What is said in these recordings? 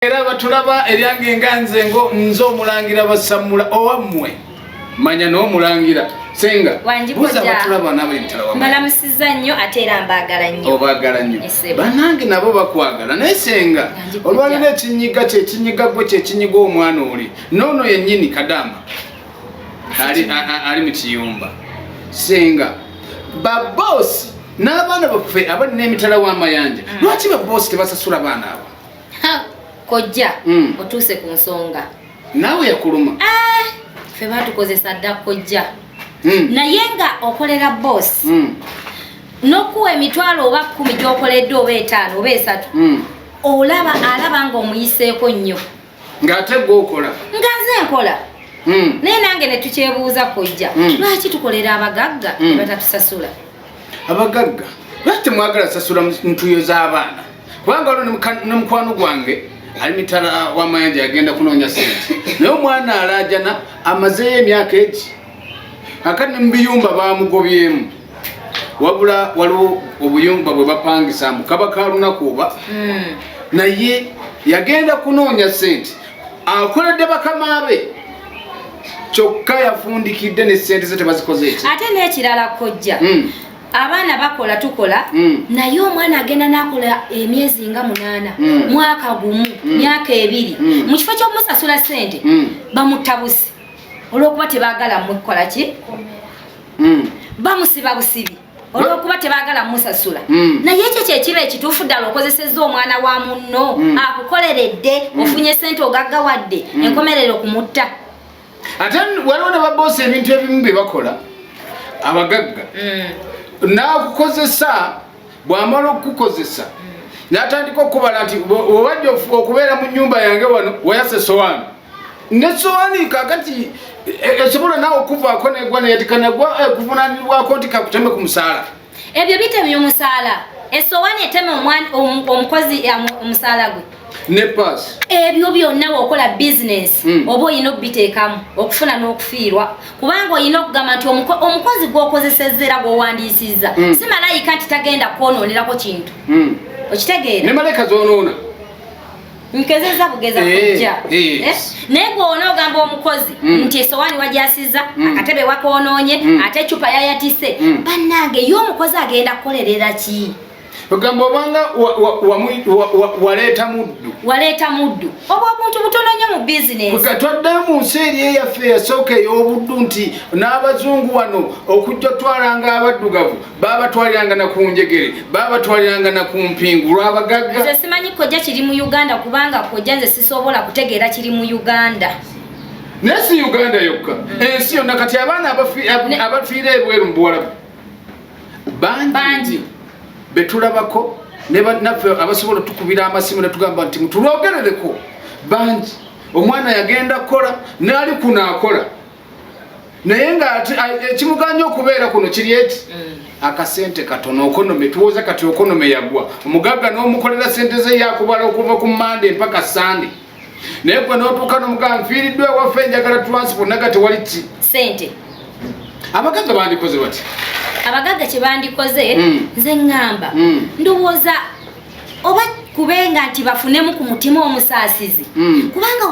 era batulaba eryange nga nze ngo nze omulangira basammula owammwe manya n'omulangira senga buza batulaba nabo emitala wa mbalamusiza nnyo ate era mbaagala nnyo obaagala nnyo banange nabo bakwagala naye senga olwalina ekinyiga kyekinyiga gwe kyekinyiga omwana oli noono yennyini kadama ali mu kiyumba senga baboosi n'abaana baffe abali n'emitala w'amayanja mm. lwaki baboosi tebasasula baana abo kojja mm. otuuse ku nsonga naawe yakuluma ah, fe batukozesa dda kojja mm. naye nga okolera boss mm. nokuwa emitwalo oba kumi gyokoledde oba etaano oba esatu mm. olaba alaba nga omuyiseeko nnyo ngaate gwe okola nga nze nkola mm. naye nange netukyebuuza kojja mm. lwaki tukolera abagagga mm. batatusasula abagagga lwaki temwagala sasula ntuyo z'abaana kubanga olwo ne mukwano gwange ali mitala w'amayanja yagenda kunoonya sente naye omwana alaajana amazeeyo emyaka egi akati ne mu biyumba baamugobyemu wabula waliwo obuyumba bwe bapangisa mu kaba ka lunaku oba hmm. naye yagenda kunoonya sente akoledde bakama be kyokka yafundikidde ne sente ze tebazikoze eki ate n'ekirala kojja hmm. abaana bakola tukola hmm. naye omwana agenda nakola emyezi nga munaana hmm. mwaka gumu myaka ebiri mu kifo kyokumusasula sente bamutabusi olwokuba tebagala mukukola ki bamusiba busibi olwokuba tebagala musasula mm. naye ekyo kyekiba ekituufu ddala okozesezza omwana wa munno mm. akukoleredde mm. ofunye sente ogaggawadde mm. enkomerero kumutta ate waliwo ne baboosa ebintu ebimu bye bakola abagagga mm. nakukozesa bwamala okukukozesa mm. natandika okukubala nti owajja okubeera mu nyumba yange wano wayasa esowani nesowaani kakati esobola e, naawe okuvaako negwa neyatikanagwa eh, kuvunanirwako nti kakuteme ku musaala ebyo bitemye omusaala esowaani eteme omukozi eh, omusaala gwe nepas ebyo byonna wokola bizinesi hmm. oba olina okubiteekamu okufuna n'okufiirwa kubanga olina okugamba nti omukozi gwokozeseza era gwowandiisiza hmm. si malayika nti tagenda kwonoonerako kintu hmm. okitegeera ne malayika zonoona nkezeza bugeza eh, kujja eh. Eh? naye gweona ogamba omukozi mm. nti esowaani wajasiza mm. akatebe wakonoonye mm. ate ecupa yayatise banange ye omukozi agenda kukolerera ki ogamba obanga waleeta muddu waleeta muddu oba obuntu butono nnyo mu bizinesi twaddayo mu nsi eri eyaffe eyasooka ey'obuddu nti n'abazungu wano okujja otwalanga abaddugavu babatwaliranga na ku njegere babatwaliranga na ku mpingu lwabagagga nze simanyi kojja kiri mu uganda kubanga kojja nze sisobola kutegeera kiri mu uganda naye si uganda yokka mm. ensi yonna kati abaana abafiira ebweru mu buwalabu bangi betulabako naffe abasobola otukubira amasimu netugamba nti mutulwogerereko bangi omwana yagenda kukola naali kunaakola naye nga ekimuganya okubeera kuno kiri eki mm. akasente katono okonome tuwoza kati okonome yagwa omugagga n'omukolera sente ze yakubala okuva ku mande mpaka sande naye gwe n'otuuka nomugamba nfiiriddwa ewaffe njagala transport naga tewali ki sente abagagga bandikoze bati abagagga kyebandikoze mm. nze ŋŋamba mm. ndowooza oba kubenga nti bafunemu ku mutima omusaasizi mm. kubanga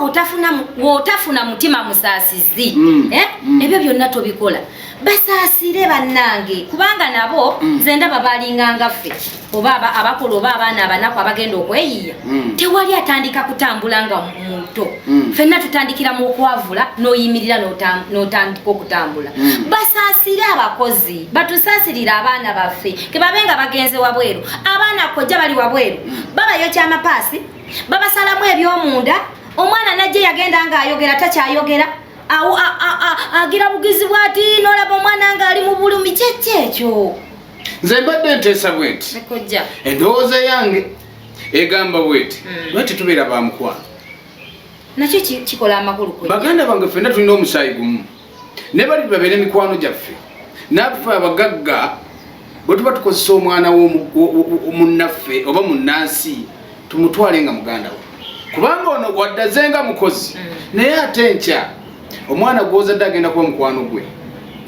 wotafuna mutima musaasizi mm. Eh? Mm. ebyo byonna tobikola basaasire bannange kubanga nabo mm. nze ndaba balinga ngaffe oba abakola oba abaana abanaku abagenda okweyiya mm. tewali atandika kutambula nga muto mm. fenna tutandikira mu okwavula n'oyimirira n'otandika okutambula mm. basaasire abakozi batusaasirire abaana baffe kebabe nga bagenze wabweru abaana kojja bali wabweru babayo kyamapaasi babasalamu ebyomunda omwana najje yagenda nga ayogera takyayogera agira bugizi bwati nolaba omwana nga ali mu bulumi kyekki ekyo nze mbadde nteesa bwenti endowooza yange egamba bwenti hmm. lwe tetubeera bamukwano nakyo kikola amakulu baganda bange fenna tulina omusaayi gumu ne bali babeere mikwano gyaffe naffe abagagga bwe tuba tukozesa omwana munnaffe oba munnansi tumutwale nga muganda we kubanga ono waddaze nga mukozi mm. naye ate enkya omwana gwozadde agenda kuba mukwano gwe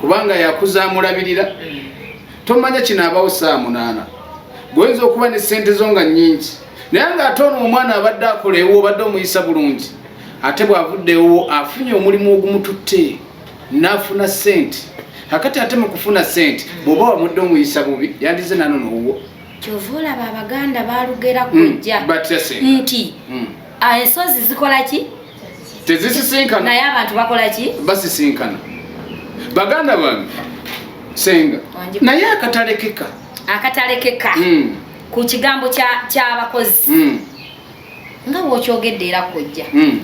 kubanga yakuza amulabirira mm. tomanya kinaabawo saa munaana gwoyinza okuba ne sente zo nga nyingi naye nga ate ono omwana abadde akola ewo obadde omuyisa bulungi ate bw'avuddewo afunye omulimu ogumututte n'afuna ssente kakati ate mu kufuna ssente bw'oba wamudde omuyisa bubi yandize nano n'owuwo kyova olaba abaganda balugera hmm, kujja nti hmm. ah, ensozi zikola ki tezisisinkana naye abantu bakola ki basisinkana baganda bange senga naye akatalekeka akatalekeka hmm. ku kigambo ky'abakozi nga wokyogedde era kojja mm.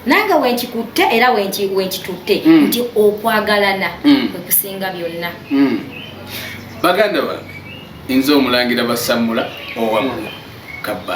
nange wenkikutte era wenkitutte mm. nti okwagalana mm. kwekusinga byonna mm. baganda bange nze omulangira basamula owamula kabba